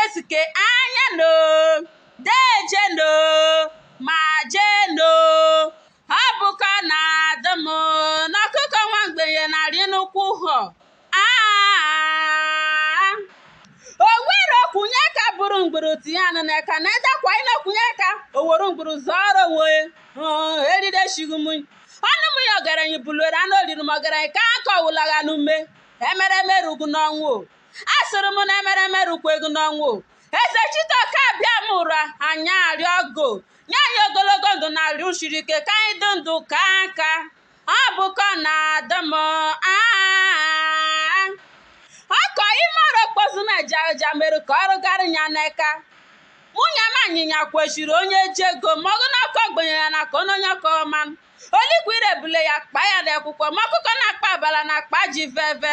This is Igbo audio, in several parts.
Esike anya no, deje no, ma je no. Ọ bụkọ na adị m na ọkụkọ nwa mgbenye na-arị n'ụkwụ họ. Aa! Owere okwunye ka bụrụ mgburu tinye anụ n'eka na edekwa ịna okwunye ka owere mgburu zọrọ onwe ya. Hụụ, eride shighi m. Ọnụ m ya ọgaranya bulere anụ oriri m ọgaranya ka akọ wụlagha n'ume. Emereme rugu n'ọnwụ o. asụrụ m na emereme rukwego n'ọnwụ Ezechitoke Abịamụra anyị arịọ gụ nye anyị ogologo ndụ na arụ shiri ike ka anyị dị ndụ ka aka ọ bụkọ na adị m aa ọkọ ịmara okpozu m ejaja mere ka ọrụ garị ya n'eka nwunye m anyịnya kwesịrị onye ji ego mọgụ na ọkọ ogbenye ya na ka onye ọkọ ọma olikwa irebule ya kpa ya n'ekwụkwọ ma ọkụkọ na-akpa abala na akpa ji veve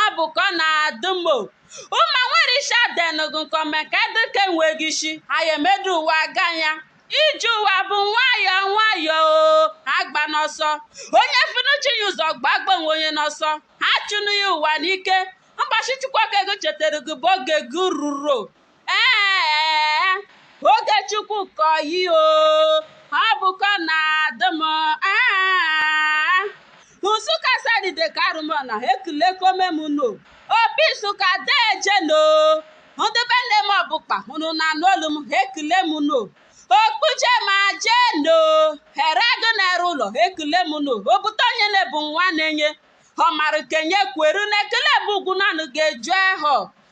ọ bụ ka ọ na-adị m o ụma nwere isi adenụgụ nkọme ka dịka enweghị isi anyị emedu ụwa aga ya ije ụwa bụ nwayọọ nwayọọ o agba n'ọsọ onye finuchi ya ụzọ gbagbo onwe onye n'ọsọ ha chụnụ ya ụwa n'ike mbọchị Chukwu oke gụ chetara gị bụ oge gị ruru Ee, oge Chukwu ka oyi o, ọ bụkọ na-adị m. Aa, Nsụka Asadụ Ideke Arụmọna ekulekome m no. Opi Nsụka deje no. Ndị be nne m Ọbụkpa unu na-anụ olu m ekule m no. Okpuje ma jee no. Ero Agụ na Ero Ụlọ ekule m no. Obute onye na-ebu nwa na-enye. Ọ mara kenye kweru na ekele bụ ugwu nanụ ga-eju ehọ.